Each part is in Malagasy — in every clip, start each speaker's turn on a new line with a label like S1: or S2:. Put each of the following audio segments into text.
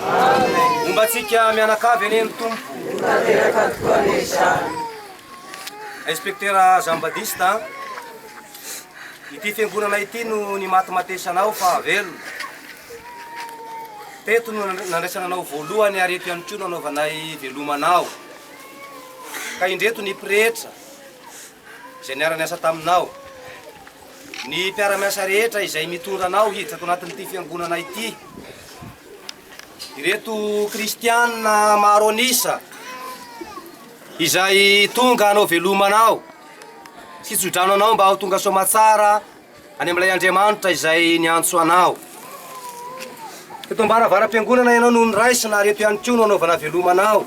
S1: Homba antsika mianakavy anie ny Tompo. Tanteraka tokoa anie izany. Inspektera Jean Badiste a! Ity fiangonana ity no nimatimatesana aho fa velona. Teto no nandraisana anao voalohany ary eto ihany koa no anaovanay veloma anao. Ka indreto ny pretra izay niara-niasa taminao. Ny mpiara-miasa rehetra izay mitondra anao hiditra ato anatin'ity fiangonana ity. Ireto kristiana maro an'isa izay tonga hanao veloma anao sy tso-drano anao mba ho tonga soamatsara any amin'ilay Andriamanitra izay niantso anao. Eto am-baravaram-piangonana ianao no noraisina ary eto ihany koa no anaovana veloma anao.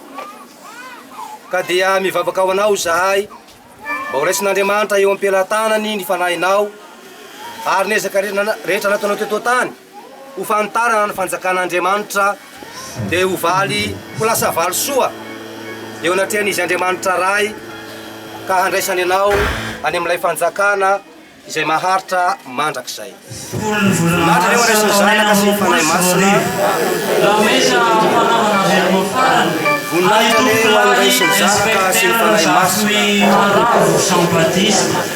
S1: Ka dia mivavaka ho anao izahay mba horaisin'Andriamanitra eo am-pelatanany ny fanahinao ary ny ezaka rehetra nataonao teto an-tany ho fanitarana ny fanjakan'Andriamanitra dia ho valy ho lasa valisoa eo anatrehan'Izy Andriamanitra Ray ka handraisany anao any amin'ilay fanjakana izay maharitra mandrakizay. Voninahitra ny Ray sy ny Zanaka sy ny Fanahy Masina. Voninahitra ny Ray sy ny Zanaka sy ny Fanahy Masina.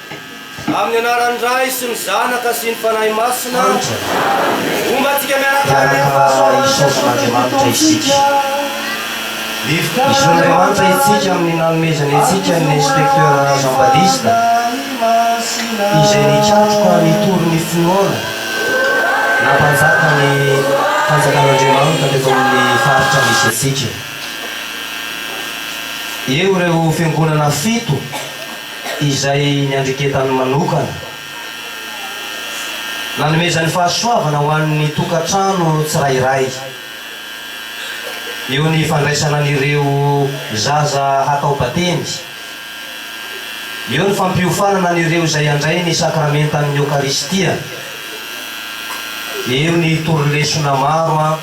S1: Amin'ny anaran'ny Ray sy ny Zanaka sy ny Fanahy Masina. Homba antsika miaraka amin'ny
S2: fahasoavan'Andriamanitra isika. Esoin'Andriamanitra antsika amin'ny nanomezany antsika ny Inspecteur Jean Badista izay nikatroka nitory ny finoana nampanjaka ny fanjakan'Andriamanitra teto amin'ny faritra misy antsika. Eo ireo fiangonana fito. izay niandreketany manokana, nanomezany fahasoavana ho an'ny tokantrano tsirairay, eo ny fandraisana an'ireo zaza hatao batemy, eo ny fampiofanana an'ireo izay handray ny sakramentan'ny Eokaristia, eo ny torilesona maro.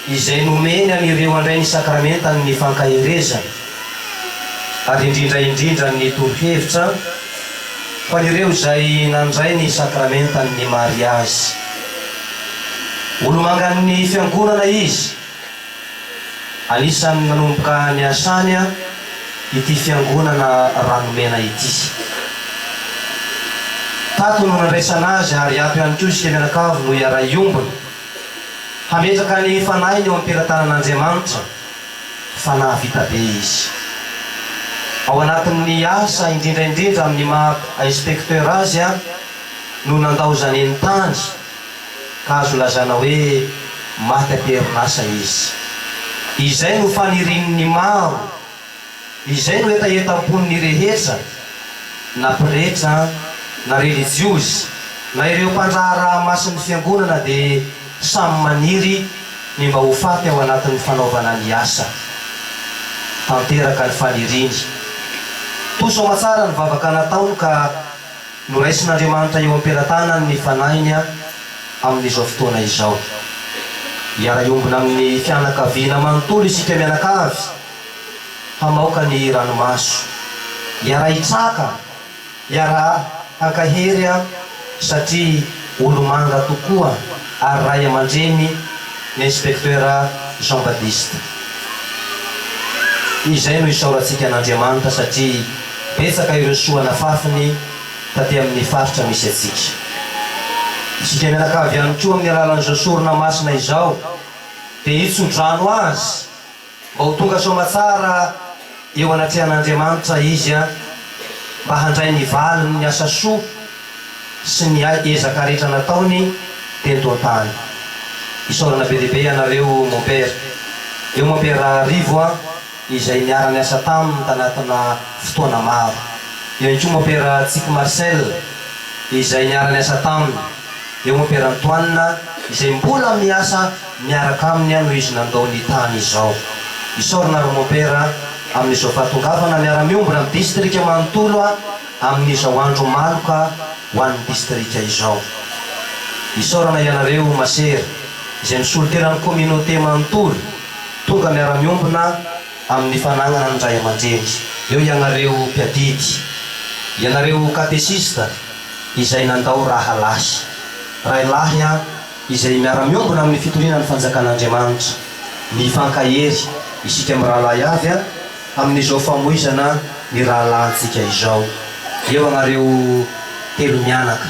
S2: izay nomeny an'ireo handray ny sakramentan' ny fankaherezana, ary indrindra indrindra ny torohevitra ho an'ireo izay nandray ny sakramentan' ny mariazy. Olomangan' ny Fiangonana izy. Anisan'ny nanomboka niasany ity Fiangonana Ranomena ity. Tato no nandraisana azy, ary ato ihany koa isika mianakavy no hiara-hiombona. Hametraka ny fanahiny eo am-pelatanan'Andriamanitra fa nahavita be izy. Ao anatin'ny asa, indrindra indrindra amin'ny maha inspecteur azy ary, no nandaozany eny tany ka azo lazaina hoe maty am-perinasa izy. Izay no fanirian'ny maro. Izay no hetahetam-pon'ny rehetra na pretra na relijiozy na ireo mpandraharaha masin'ny fiangonana dia samy maniry ny mba ho faty ao anatin'ny fanaovana ny asa. Tanteraka ny faniriany. Toa saoma tsara ny vavaka nataony ka noraisin'Andriamanitra eo am-pelatanany ny fanahiny amin'izao fotoana izao. Hiara-hiombona amin'ny fianakaviana manontolo isika mianakavy hamaoka ny ranomaso. Hiara-hitsaka, hiara-hankahery aho satria olomanga tokoa ary ray aman-dreny ny Inspecteur Jean Baptiste. Izay no isaorantsika an'Andriamanitra satria betsaka ireo soa nafafiny taty amin'ny faritra misy antsika. Isika mianakavy ihany koa amin'ny alalan'izao sorona masina izao dia hitso-drano azy Mba ho tonga soamatsara eo anatrehan'Andriamanitra izy an! Mba handray ny valiny ny asa soa sy ny ezaka rehetra nataony teto an-tany. Isaorana be dia be ianareo mompera. Eo mompera Rivo an, izay niara-niasa taminy tanatina fotoana maro. Eo ihany koa mompera Tsiky Marcel izay niara-niasa taminy. Eo mompera Antoine izay mbola miasa Miaraka aminy aho no izy nandao ny tany izao. Isaorana ry Mompera a, amin'izao fahatongavana miara-miombona amin'ny distrika manontolo a, amin'izao andro maloka ho an'ny distrika izao. Isaorana ianareo masera izay misolo tena ny communauté manontolo tonga miara-miombona amin'ny fanagnana ny ray aman-dreny. Eo ianareo mpiadidy, ianareo katesista izay nandao rahalahy, ray lahy a, izay miara-miombona amin'ny fitoriana ny Fanjakan'Andriamanitra. Mifankahery isika mirahalahy avy a, amin'izao famoizana ny rahalahintsika izao. Eo ianareo telo mianaka,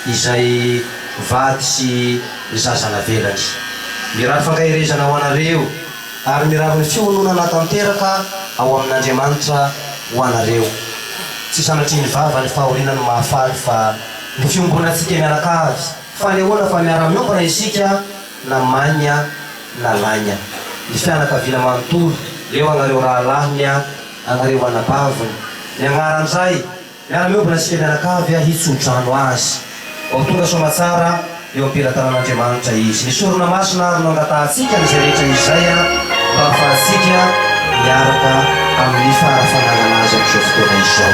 S2: izay vady sy zaza navelany. Mirary fankaherezana ho anareo, ary mirary ny fiononana tanteraka ao amin'Andriamanitra ho anareo. Tsy sanatrian'ny vava ny fahoriana no mahafaly fa ny fiombonantsika mianakavy. Fanehoana fa miara-miombona isika na maigna na laigna. Ny fianakaviana manontolo, eo agnareo rahalahiny a, agnareo anabaviny. Miagnara an'izay, miara-miombona isika mianakavy a, hitso-drano azy. Vao tonga soamatsara, eo am-pelatanan'Andriamanitra izy. Ny sorona masina ary no angatahantsika an'izay rehetra izay a, mba hahafahantsika miaraka amin'ny fara fananana azy amin'izao fotoana izao.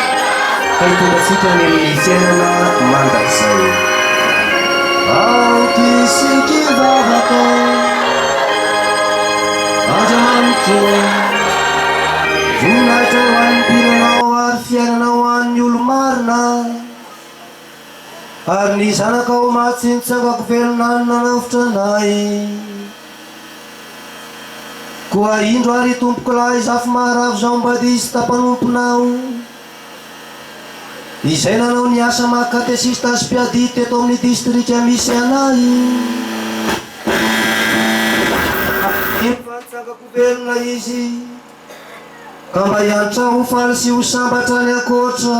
S2: Ka hitondra antsika any amin'ny fiainana mandrakizay. Aoky sy kivavaka Andriamanitro Voninahitra ho an'ny mpirinanao ary fiainana ho an'ny olo-marina Ary ny zanakao matsy nitsangako velona ny nanavotra anay. Koa indro ary tompokolahy zafy maharavo zao mbadista mpanomponao, izay nanao ny asa maha katesista sy mpiadidy teto amin'ny distrika misy anay. Mino fa nitsangako velona izy, ka mba hiantrà ho faly sy ho sambatra any ankoatra.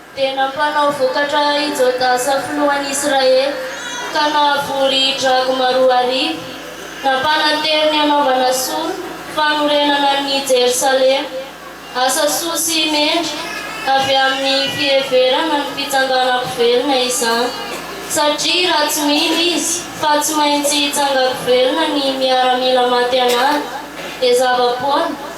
S3: Dia nampanao vokatra i Jodasa filohan'ny Israely, ka nahavory dragma roa arivo. Nampananteny ny hanaovana soa fanorenana ny Jerosalema, asa soa sy mendrika avy amin'ny fiheverana ny fitsanganako velona izany, satria raha tsy mino izy fa tsy maintsy hitsangako velona ny miaramila maty an'ady, dia zava-poana.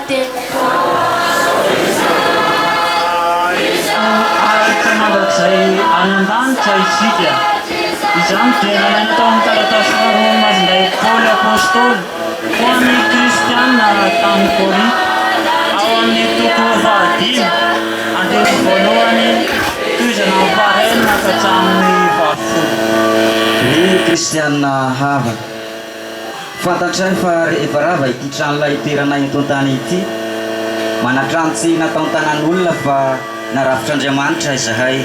S4: Tena araka mandrakizay any an-danitra isika. Izany dia nalaina tao amin'ny taratasy faharoa novazin'ilay Paoly Apostoly ho an'ny Kristianina tany Korinto, ao amin'ny toko fahadimy, andininy voalohany, tohizana amin'ny fahaenina ka hatramin'ny fahafolo. Ry
S5: Kristianina havana, Fantatray fa rehefa rava ity tranolay itoeranay eto an-tany ity, manatrano tsy nataon-tanan'olona fa narafitr'Andriamanitra izahay,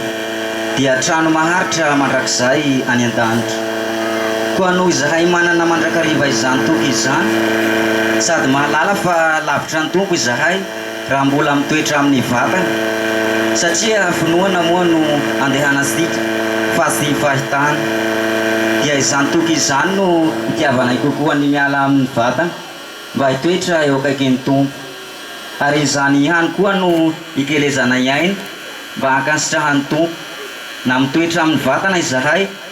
S5: dia trano maharitra mandrakizay any an-danitra. Koa noho izahay manana mandrakariva izany toky izany, sady mahalala fa lavitra ny Tompo izahay, raha mbola mitoetra amin'ny vatany satria finoana moa no andehanantsika fa tsy fahitana, dia izany toky izany no itiavanay kokoa ny miala amin'ny vatana mba hitoetra eo akaikin'ny Tompo, ary izany ihany koa no ikelezanay aina mba hankasitrahan'ny Tompo, na mitoetra amin'ny vatana izahay,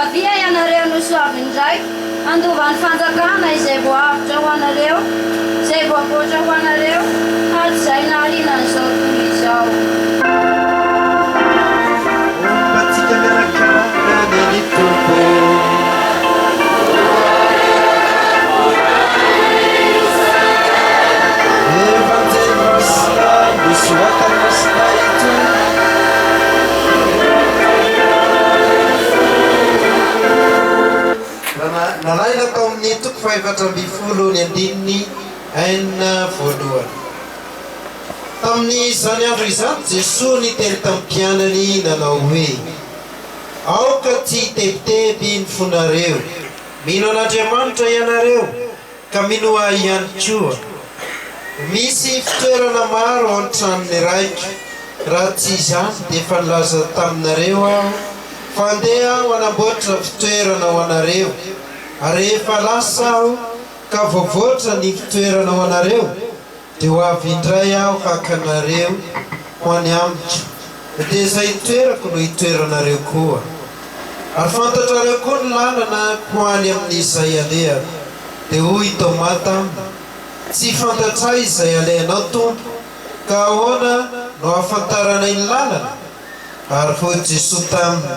S6: Avia ianareo no soavin'ny Raiko, handova ny fanjakana izay voahavotra ho anareo, izay voavoatra ho anareo hatrizay nahaliana an'izao tontolo izao.
S7: Hombantsika miaraka any ny Tompo. Evanjelin'Islam, Soratan'Islam ito. Nalaina tao amin'ny toko fahefatra ambin'ny folo ny andininy enina voalohany. Tamin'izany andro izany Jesoa niteny tamin'ny mpianany nanao hoe, Aoka tsy hitebiteby ny fonareo. Mino an'Andriamanitra ianareo. Ka mino ahy ihany koa, misy fitoerana maro ao an-tranon'ny Raiko, raha tsy izany dia efa nilaza taminareo aho fa handeha aho hanamboatra fitoerana ho anareo, ary rehefa lasa aho ka voavoatra ny fitoerana ho anareo, Dia ho avy indray aho haka anareo ho any amiko, dia izay itoerako no hitoeranareo koa. Ary fantatrareo koa ny lalana ho any amin'izay alehako. Dia hoy i Tômà taminy, Tsy fantatray izay alehanao, Tompo, ka ahoana no ahafantaranay ny lalana? Ary hoy Jesoa taminy,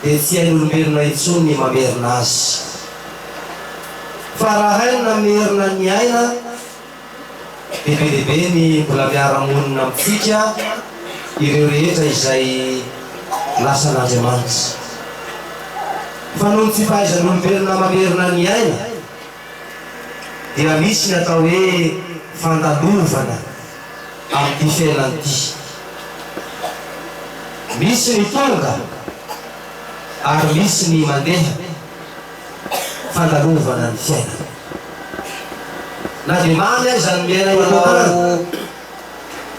S2: dia tsy hain'olombelona intsony ny mamerina azy. Fa raha hainy namerina ny aina, dia be dia be ny mbola miara-monina amintsika ireo rehetra izay lasan'Andriamanitra. Fa noho ny tsy fahaizan'olombelona mamerina ny aina, dia misy ny atao hoe fandalovana amin'ity fiainana ity. Misy ny tonga ary misy ny mandeha, fandalovana ny fiainana. Na dia mamy aza ny miaina manokana,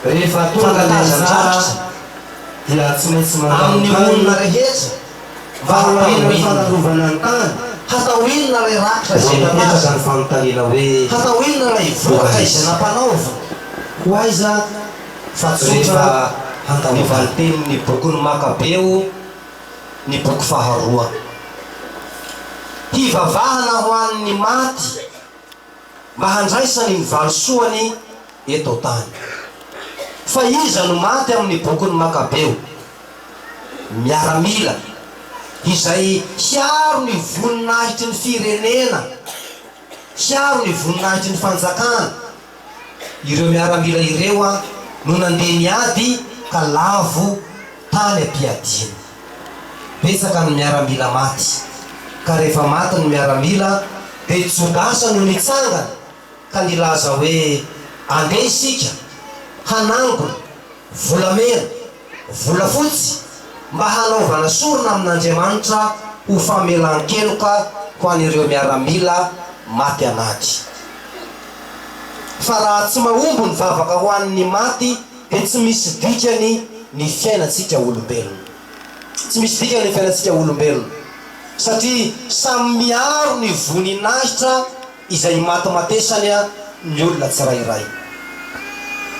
S2: rehefa tonga ny andraikitra dia tsy maintsy mandalo tany. Valo alina ny fanarovana ny tany. Hatao inona ilay rakitra izay nalaza? Hatao inona ilay vokatra izay nampanaovina? Ho aiza? Fa tsotra ny valintenin'ny bokin'ny Makabeo, ny boky faharoa. Hivavahana ho an'ny maty. mba handraisany ny valisoany eto an-tany. Fa iza no maty amin'ny bokin'ny Makabeo? Miaramila izay hiaro ny voninahitry ny firenena, hiaro ny voninahitry ny fanjakana. Ireo miaramila ireo no nandeha niady ka lavo tany am-piadiana. Betsaka ny miaramila maty, ka rehefa maty ny miaramila dia Jodasy no nitsangana ka nilaza hoe andeha isika hanangona volamena, volafotsy mba hanaovana sorona amin'Andriamanitra ho famelan-keloka ho an'ireo miaramila maty anaty. Fa raha tsy mahomby ny vavaka ho an'ny maty, Dia tsy misy dikany ny fiainantsika olombelona. Tsy misy dikany ny fiainantsika olombelona, satria samy miaro ny voninahitra izay imatimatesany ny olona tsirairay.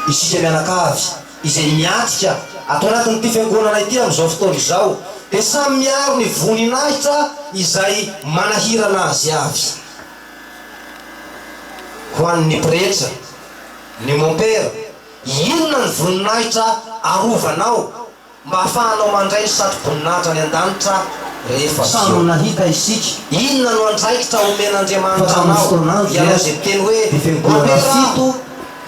S2: Isika mianakavy izay miatrika ato anatin'ity fiangonana ity amin'izao fotoana izao, dia samy miaro ny voninahitra izay manahirana azy avy. Ho an'ny pretra, ny mompera, Inona ny voninahitra arovanao mba hahafahanao mandray ny satroboninahitra any an-danitra rehefa Ziona? Inona no andraikitra omen'Andriamanitra anao? Ianao izay miteny hoe, Ampela aho!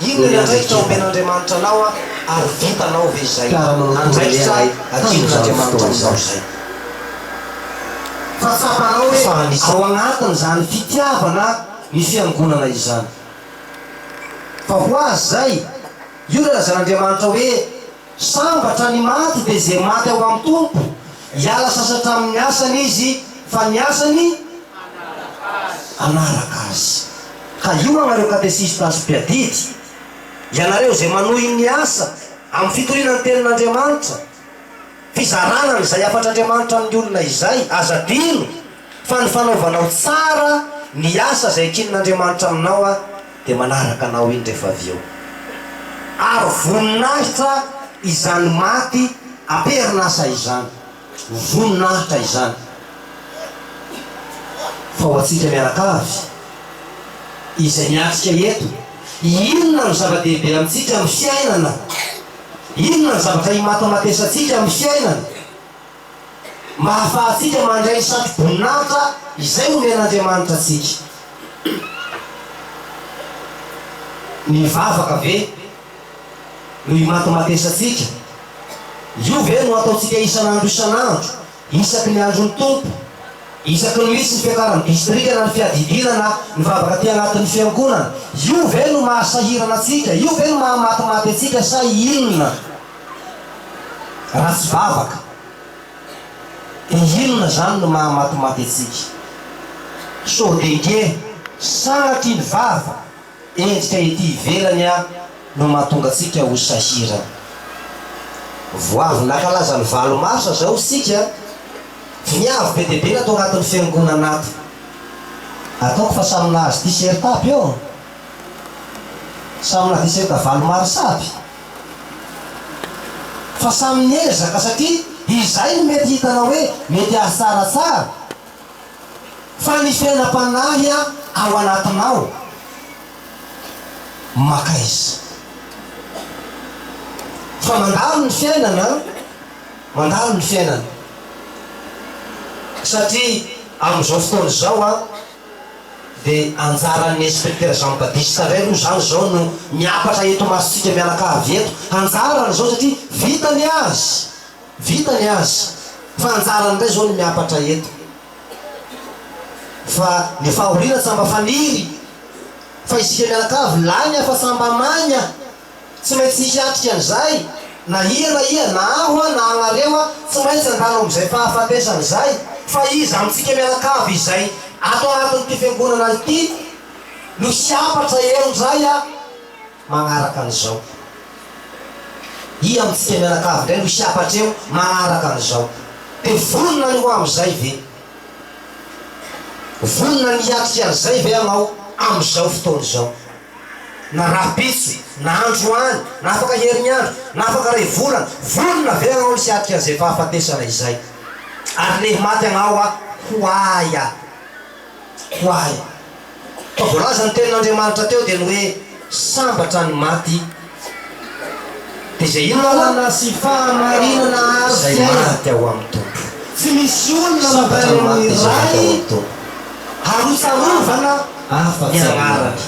S2: Inona ny andraikitra omen'Andriamanitra anao, ary vitanao ve izay? Andraikitra adinon'Andriamanitra aminao izay. Fa tsapanao hoe ao anatin'izany fitiavana ny Fiangonana izany. Fa ho azy izay, io ilay lazain'Andriamanitra hoe, Sambatra ny maty dia izay maty ao amin'ny Tompo, hiala sasatra amin'ny asany izy, fa ny asany hanaraka azy. Ka io anareo katesista sy mpiadidy, ianareo izay manohy ny asa amin'ny fitoriana ny Tenin'Andriamanitra, fizarana an'izay hafatr'Andriamanitra amin'ny olona izay. Aza adino fa ny fanaovanao tsara ny asa izay ekin'Andriamanitra aminao Aho dia manaraka anao indry rehefa avy eo. Ary voninahitra izany maty am-perin'asa izany. Voninahitra izany. Fa ho antsika mianakavy izay miatrika eto, inona no zava-dehibe amintsika amin'ny fiainana? Inona ny zavatra imatomatoesantsika amin'ny fiainana mba hahafahantsika mandray ny satroboninahitra izay omen'Andriamanitra antsika? Mivavaka ve no imatomatoesantsika? Io ve no ataontsika isan'andro isan'andro Isaky ny andron'ny Tompo, isaky ny misy ny fiakaran'ny distrika na ny fiadidiana na ny vavaka aty anatin'ny fiangonana, io ve no maha sahirana antsika, io ve no maha matimaty antsika sa inona? Raha tsy vavaka, dia inona izany no maha matimaty antsika? Sao dia nge sanatry ny vava Endrika ety ivelany ary no mahatonga antsika ho sahirana. Vao avy nankalaza ny valo marsa izao isika, voniavy be dia be natao anatin'ny fiangonana ato. Ataoko fa samy nahazo t-shirt aby eo an! Samy nahazo t-shirt valo marsa aby. Fa samy niezaka satria izay no mety hitanao hoe mety azy tsaratsara. Fa ny fiainam-panahy ao anatinao maka izy. Fa mandalo ny fiainana, mandalo ny fiainana. Satria amin'izao fotoana izao dia anjaran'ny Inspecteur Jean Badiste indray aloha izany izao no miakatra eto imasontsika mianakavy eto. Anjarany izao satria vita ny azy. Vita ny azy fa anjarany ndray zao ny miapatra eto fa ny fahoriana tsa mba faniry fa isika mianakavy lahy ny hafa tsa mba maina tsy maintsy hiatrika an'izay na ia na ia na aho a na anareo a tsy maintsy andalo amzay fahafatesana izay fa iza amitsika mianakavy izay ato anatin'ity fiangonana ity no hiapatra eo ndray a manaraka an'izao. Ia amin'ny fiteny mianakavy indray no hisy hafatra eo manaraka an'izao? Dia vonona ny ho amin'izay ve? Vonona ny hiatrika an'izay ve ianao amin'izao fotoana izao? Na rahampitso, na androany, na afaka herinandro, na afaka iray volana, vonona ve ianao ny hiatrika an'izay fahafatesana izay? Ary lehimaty anao aho, ho ahy aho. ho ahy. Koa voalaza ny tenin'Andriamanitra teo dia ny hoe sambatra ny maty. Dia izay inona koa? Lalana sy fahamarinana
S1: ary fiainana. Izay maty ao amin'ny
S2: Tompo. Tsy misy
S1: olona mandray ny Ray ary ho tsarovana ny anarany.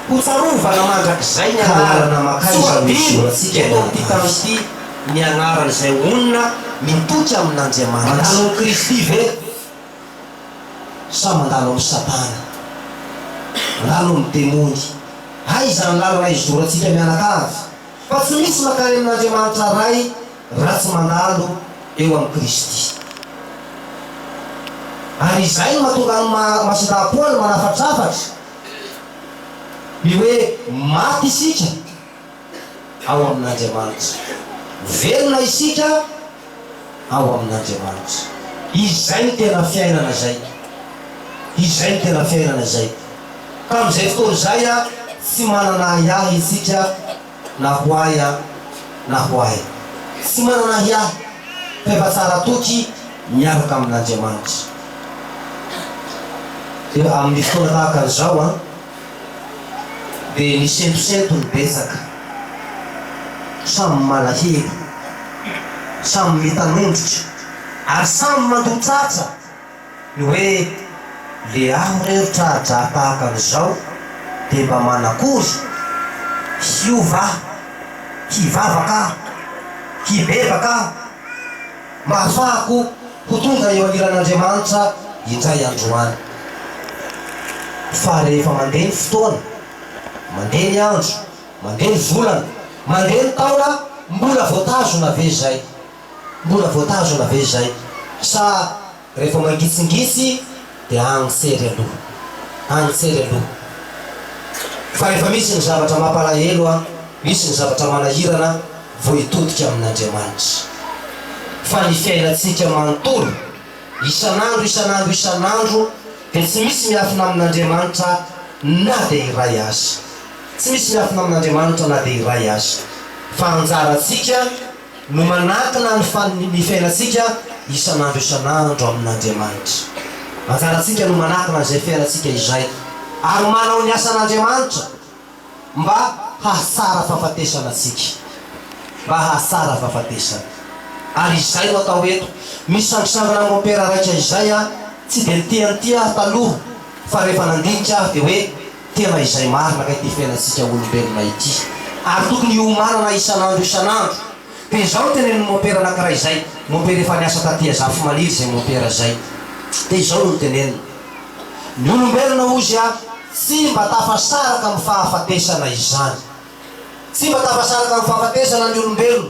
S1: Ho tsarovana mandrakizay ny anarany. Tsoadino
S2: eto amin'ity tany ity
S1: ny anaran'izay honina mitoky amin'Andriamanitra. Mandalo amin'i Kristy
S2: ve? sa mandalo amin'i Satana? Mandalo amin'ny demony. Aiza ny lalana hizorantsika mianakavy fa tsy misy mankany amin'Andriamanitra Ray raha tsy mandalo eo amin'i Kristy. Ary izay no mahatonga ny maha masindahapoany manafatrafatra ny hoe maty isika. ao amin'Andriamanitra. Velona isika ao amin'Andriamanitra. Izay no tena fiainana izay. Izay no tena fiainana izay. Ka amin'izay fotoana izay tsy manana ahiahy isika na ho ahy na ho ahy. Tsy manana ahiahy fa efa tsara toky miaraka amin'Andriamanitra. Dia amin'ny fotoana tahaka an'izao. dia nisentosento ny betsaka, samy malahelo, samy mitanondrika ary samy mandotsatsa ny hoe le aho re ry tra-dra tahaka an'izao dia mba manakory? hiova aho? hivavaka aho? hibebaka aho? Mba hahafahako ho tonga eo anilan'Andriamanitra indray andro any. Fa rehefa mandeha ny fotoana, mandeha ny andro, mandeha ny volana, mandeha ny taona, mbola voatazona ve izay? Mbola voatazona ve izay? Sa. Rehefa mangisingisy dia agny sery aloha, agny sery aloha fa rehefa misy ny zavatra mampalahelo, misy ny zavatra manahirana vao hitodika amin'Andriamanitra. Fa ny fiainantsika manontolo, isan'andro, isan'andro, isan'andro dia tsy misy miafina amin'Andriamanitra na dia iray aza. Tsy misy miafina amin'Andriamanitra na dia iray aza. Fa anjarantsika. no manatona ny faly ny fiainantsika isan'andro isan'andro amin'Andriamanitra. Anjarantsika no manatona izay fiainantsika izay ary manao ny asan'Andriamanitra mba hahatsara fahafatesana antsika. Mba hahatsara fahafatesana. Ary izay no atao eto. Misangisangina amin'ny mompera raika izay aho, tsy dia niteny ity aho taloha fa rehefa nandinika aho dia hoe tena izay marina ka ity fiainantsika olombelona ity ary tokony hiomanana isan'andro isan'andro dia izao no tenenin'ny mompera anankiray izay mompera efa niasa taty Azafimaniry izay mompera izay dia izao no noteneniny ny olombelona hozy a tsy mba tafasaraka amin'ny fahafatesana izany tsy mba tafasaraka amin'ny fahafatesana ny olombelona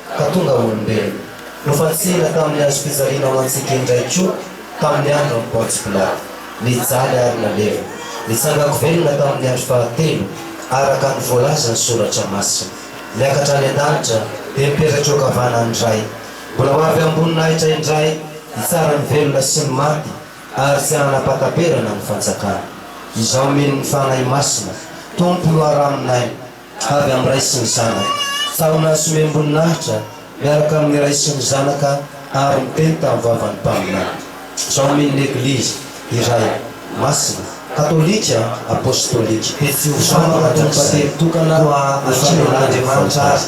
S2: ka tonga olombelona. Nofantsihina tamin'ny hazom-pijaliana ho antsika indray koa tamin'ny andron'i Pontsy Pilato. Nijaly ary nalevina. Nitsangako velona tamin'ny andro fahatelo, araka ny voalazan'ny Soratra Masina. Niakatra any an-danitra, dia nipetraka eo ankavanan'ny Ray. Mbola ho avy am-boninahitra indray hitsara ny velona sy ny maty, ary tsy hanapa-taperana ny fanjakany. Izao mino ny Fanahy Masina, Tompo loharanonay. avy amin'ny Ray sy ny Zanaka, tahona somem-boninahitra miaraka amin'ny Ray sy ny Zanaka ary miteny tamin'ny vavan'ny Mpaminany. Izao amin' ny Eglizy iray masina, katolika, apostolika. Izao ny Mpampakatry ny Batemy tokana ho an'Andriamanitra azy.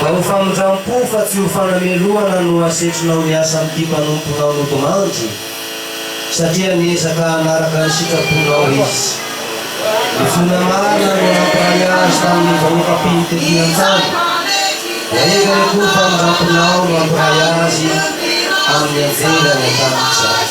S2: Mba ho famindram-po fa tsy ho fanamelohana no asetrinao miasa amin'ity mpanomponao nodimandry, satria niezaka hanaraka ny sitraponao izy. Ny finoana marina no nampiray azy tamin'ny vahoaka mpino tetỳ an-tany. Rehefa ny akoho mpamindram-ponao no hampiray azy amin'ny anjely any an-danitra.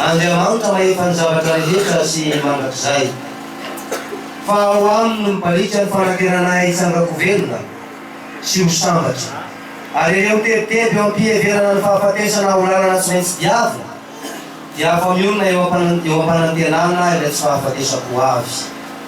S2: Andriamanitra mahita ny zavatra rehetra sy mandrakizay. Fa ao Aminy no mibaliaka ny fanateranay hitsangako velona sy ho sambatra. Ary ireo mitebiteby eo am-piheverana ny fahafatesana ho lalana tsy maintsy diavina, dia afa-mionona eo am-panantenana ilay tsy fahafatesako ho avy.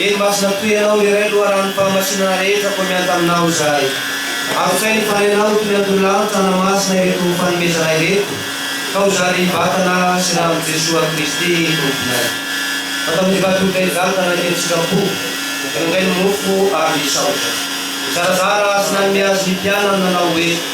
S2: Eny Masina toy Ianao irery loharanom pahamasinana rehetra koa miahy taminao izahay. Avotsay ny fanenao eto ny Andohalo Tana Masina ireto fanomezana ireto ka ho zary ny vatana sy rano Jesoa Kristy Tomponay. Fa tamin'ny vadin'olona izany ka nanome ny sitrapony, nangaingainy mofo ary nisaotra. Nizarazara sy nanome azy ny mpianany nanao hoe.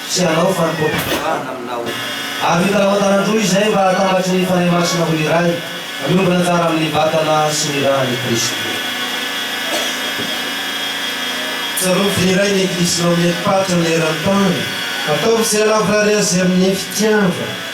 S2: Tsy hanao fanompoam-pivavahana aminao. Ary vita namantaran-droa izay mba hahatambatry ny Fanahy Masina ho iray, miombona tsara amin'ny Vatana sy ny Ran'i Kristy.
S7: Tsarovy dia iray ny Eklisy naomen'ny Patra ny eran-tany. Ataovy izay lavorary azy amin'ny fitiavana.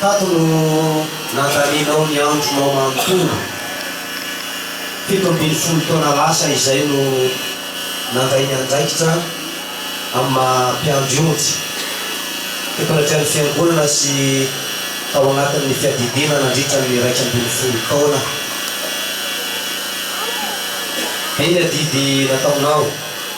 S1: Tato no nandanianao ny andronao manontolo. Fito ambin'ny folo taona lasa izay no nandray ny andraikitra amin'ny maha mpiandry ondry temporaty an'ny Fiangonana sy tao anatin'ny fiadidiana nandritra ny iraika ambin'ny folo taona. Be ny adidy nataonao.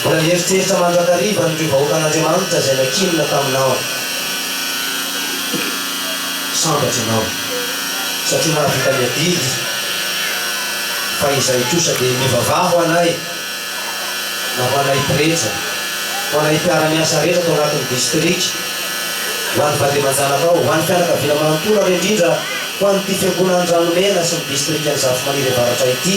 S1: Mbola nieritreritra mandrakariva an'ireo vahoakan'Andriamanitra izay nankinina taminao. Sambatra ianao, satria nahavita ny adidy, fa izay kosa dia mivavaha ho anay, na ho anay pretra, ho anay mpiara-miasa rehetra ato anatin'ny distrika, ho an'ny vady aman-janakao, ho an'ny fianakaviana manontolo, ary indrindra ho an'ity Fiangonan'i Ranomena sy ny distrikan'i Zafimaniry Avaratra ity.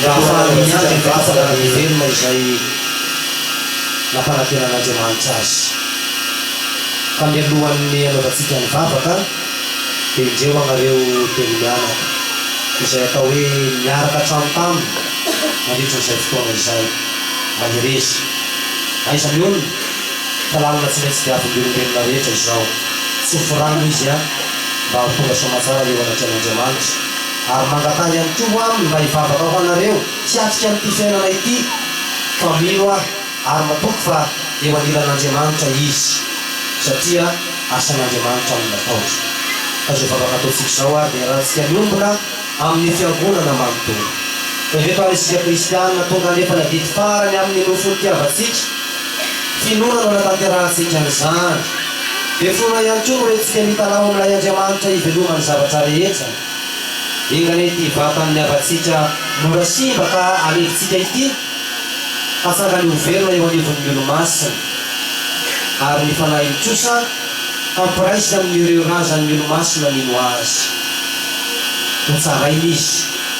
S1: Mba hahafahany miady amin'ny vahoka raha miverina izay nampanantenan'Andriamanitra azy. Fa mialohan'ny hanaovantsika ny vavaka dia indreo ianareo telo mianaka, izay atao hoe niaraka hatrany taminy nandritra izay fotoana izay, mahereza. Aiza ny olona? Fa lalina tsy maintsy diavin'ny olombelona rehetra izao. Tsofy rano izy an! Mba ho tonga soamatsara eo anatrehan'Andriamanitra. Ary mangatanga ihany koa ho Aminy mba hivavaka ho anareo hiatrika an'ity fiainana ity, fa mino aho ary matoky fa eo anilan'Andriamanitra Izy, satria asan'Andriamanitra no nataony. Ka izao vavaka ataontsika izao ary dia arahantsika miombona amin'ny Fiangonana manontolo. Ireto ary isika Kristianina tonga hanefana didy farany amin'ny nofy nitiavantsika, finoana no anatanterahantsika an'izany. Dia finoana ihany koa no entintsika mitalaho amin'ilay Andriamanitra ivelomany zavatra rehetra. Inona re ity vatan'ny havantsika mora simba ka alefintsika ity? Fa sangany ho velona eo anivon'ny Olomasina. Ary ny Fanahiny kosa hampiraisiny amin'ireo razan'ny Olomasina mino Azy. Hotsaraina Izy.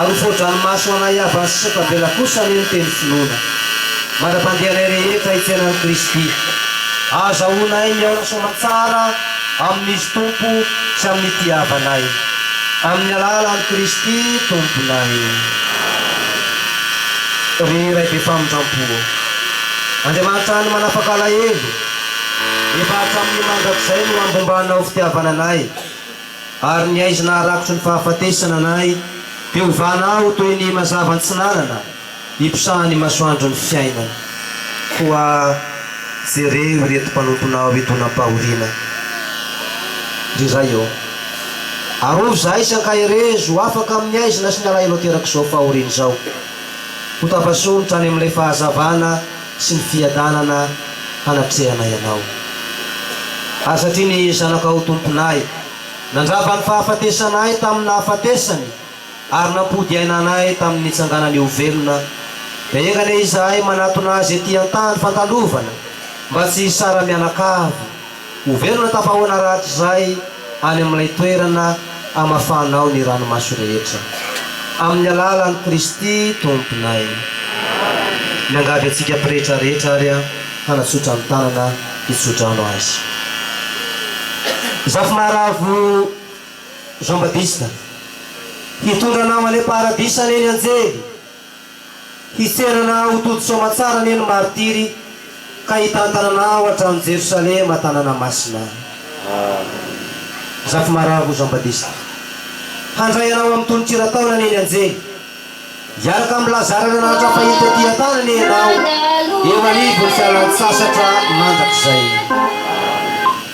S2: Ary ho voadranomaso ho anay havany sy sata-bela kosa anie ny teny finoana. Mandra-pandeha anay rehetra hifiainan'i Kristy, ahazahoanay mihaona soamantsara amin'Izy Tompo sy amin'ity havanay. Amin'ny alalan'i Kristy Tomponay. Ry Ray be famindrampo ô! Andriamanitra hany manapaka alahelo, efa hatramin'ny mandrakizay no ambombanao fitiavana anay, Ary ny haizina harakotry ny fahafatesana anay dia ho vana aho toy ny mazava an-tsinanana iposahan'ny masoandro ny fiainana. Koa jereo ireto mpanomponao hidonam-pahoriana, ry Ray ô. Arovy izahay sy ankaherezo ho afaka amin'ny haizina sy ny alahelo aterak'izao fahoriana izao. Hotapasohonitra any amin'ilay fahazavana sy ny fiadanana hanatrehanay Anao. Ary satria ny Zanakao Tomponay nandrava ny fahafatesanay tamin'ny nahafatesany ary nampody aina anay tamin'ny nitsanganany ho velona, dia enga anie izahay manatona Azy ety an-tany fandalovana mba tsy hisara-mianakavy, Ho velona tafahoana rahatrizay any amin'ilay toerana amafanao ny ranomaso rehetra. Amin'ny alalan'i Kristy Tomponay. Miangavy antsika pretra rehetra ary hanatsotra ny tanana hitsodrano Azy. Zafy maharavo Jean Baptiste. Hitondra anao any am-paradisa anie ny anjely Hiserana ho tojo soamantsara anie ny martiry ka hitantanana ao an-tranon'i Jerosalema tanàna masina. Zafimara ho Jean Badista. Handray anao amin'ny tononkira taona anie ny anjely. Hiaraka amin'i Lazara ary Anaratra fahiny taty an-tany anie ianao eo anivon'ny fialantsasatra mandrakizay.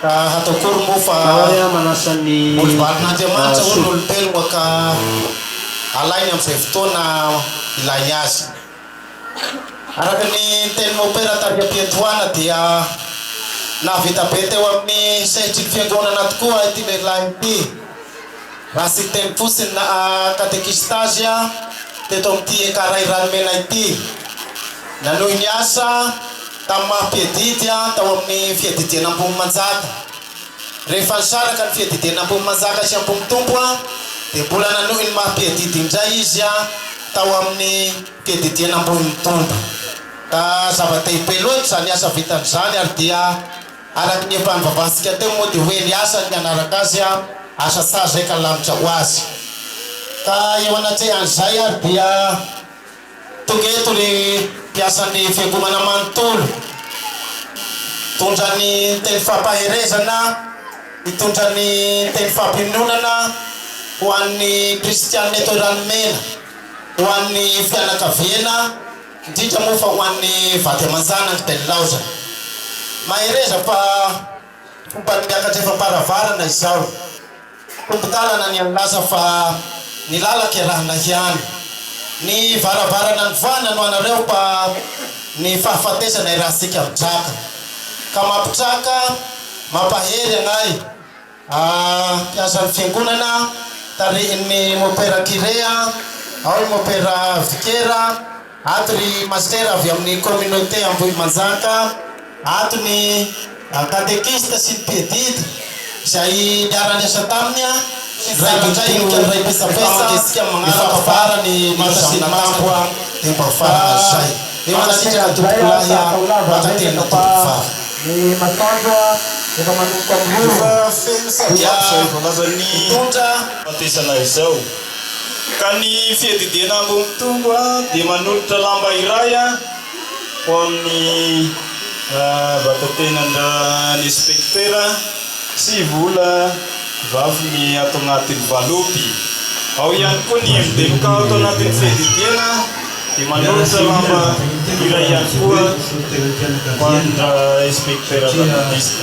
S7: Ka hatao akory moa fa olibalin'Andriamanitra hono ny olombelogna ka alainy amin'izay fotoana ilainy azy. Araka ny tenin'i Mopera tary am-piandohana dia nahavita be teo amin'ny sehatry ny fiangonana tokoa ity lehilahy ity raha tsy niteny fotsiny na katekista azy teto amin'ity Ecaray Ranomena ity. Nanohy niasa. Tamin'ny maha mpiadidy aho tao amin'ny fiadidiana Ambohimanjaka. Rehefa nisaraka ny fiadidiana Ambohimanjaka sy Ambohitompo dia mbola nanohy ny maha mpiadidy indray izy tao amin'ny fiadidiana Ambohimitombo. Ka zava-dehibe loatra izany asa vitany izany ary dia araka ny efa nivavahantsika teo moa dia hoe ny asany ny hanaraka azy asa sazy izay ka lanitra ho azy. Ka eo anatrehan'izay ary dia. Tonga eto ny mpiasan'ny fiangonana manontolo, mitondra ny teny fampaherezana, mitondra ny teny fampiononana ho an'ny kristiana eto Ranomena, ho an'ny fianakaviana, indrindra moa fa ho an'ny vady aman-janany dia nilaozany. Mahereza fa fomban'ny miakatra efa am-paravarana izao. Mpitantana ny nilaza fa ny lala kerahina hiany. Ny varavarana nivoahana no anareo pa ny fahafatesana irahantsika mitraka. Ka mampitraka, mampahery anay ah mpiasan'ny fiangonana tarihin'ny mopera Kirea, ao ny mopera Vikera, Ato ry Master avy amin'ny communauté Ambohimanjaka, ato ny catéchistes sy ny piedide izay niara-niasa taminy Raindinika ny Raim-pitsapesa ny fampabara ny maka sy ny makambo dia mba farana izay. Mankasitraka tompokolahy a, mankatelina tompokovavy. Ny masoandro efa manomboka miroro. Efa feno sady azo hitondra. Fampiasana
S8: izao. Ka ny fiadidiana ambony tongo dia manolotra lamba iray ho amin'ny vatatenan-dRainspektera sy vola vafiny ato anatin'ny valopy. Ao ihany koa ny MDMK ato anatin'ny fiadidiana dia manolotra lamba iray ihany koa ho an-dRainspektera Jean-Baptiste.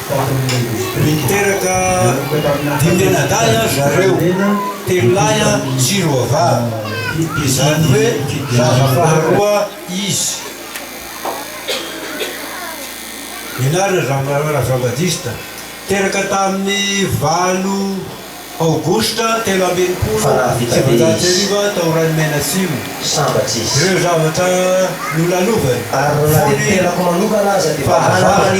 S9: Niteraka dimy anadahy an zareo, telo lahy an sy roa vavy, izany hoe zaza faharoa izy. Ny anarany Ramalala Jean Baptiste, teraka tamin'ny valo Aogositra telo amby enimpolo sy sivinjato sy arivo tao Ranomena Simo. Ireo zavatra nolalovany, fony fa hazava.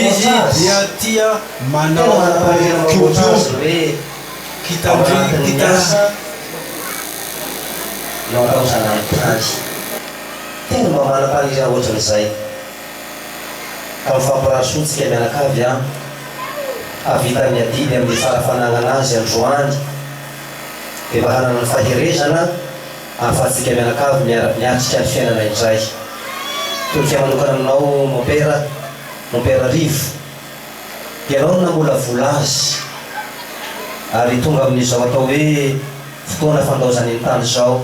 S9: Izy dia tia manao kiodiody, kitandrina, kitasa.
S2: Tena mba manam-paniriana ohatran'izay. ka mifampirasoa tsika mianakavy a! Hahavita ny adidy amin'ny tsara fanagnana azy androany dia mba hanana ny faherezana ahafahantsika mianakavy miara miatrika ny fiainana indray. Tonika manokana aminao Mompera, Mompera Rivo, ianao no namolavola azy ary tonga amin'izao atao hoe fotoana fandaozany ny tany izao.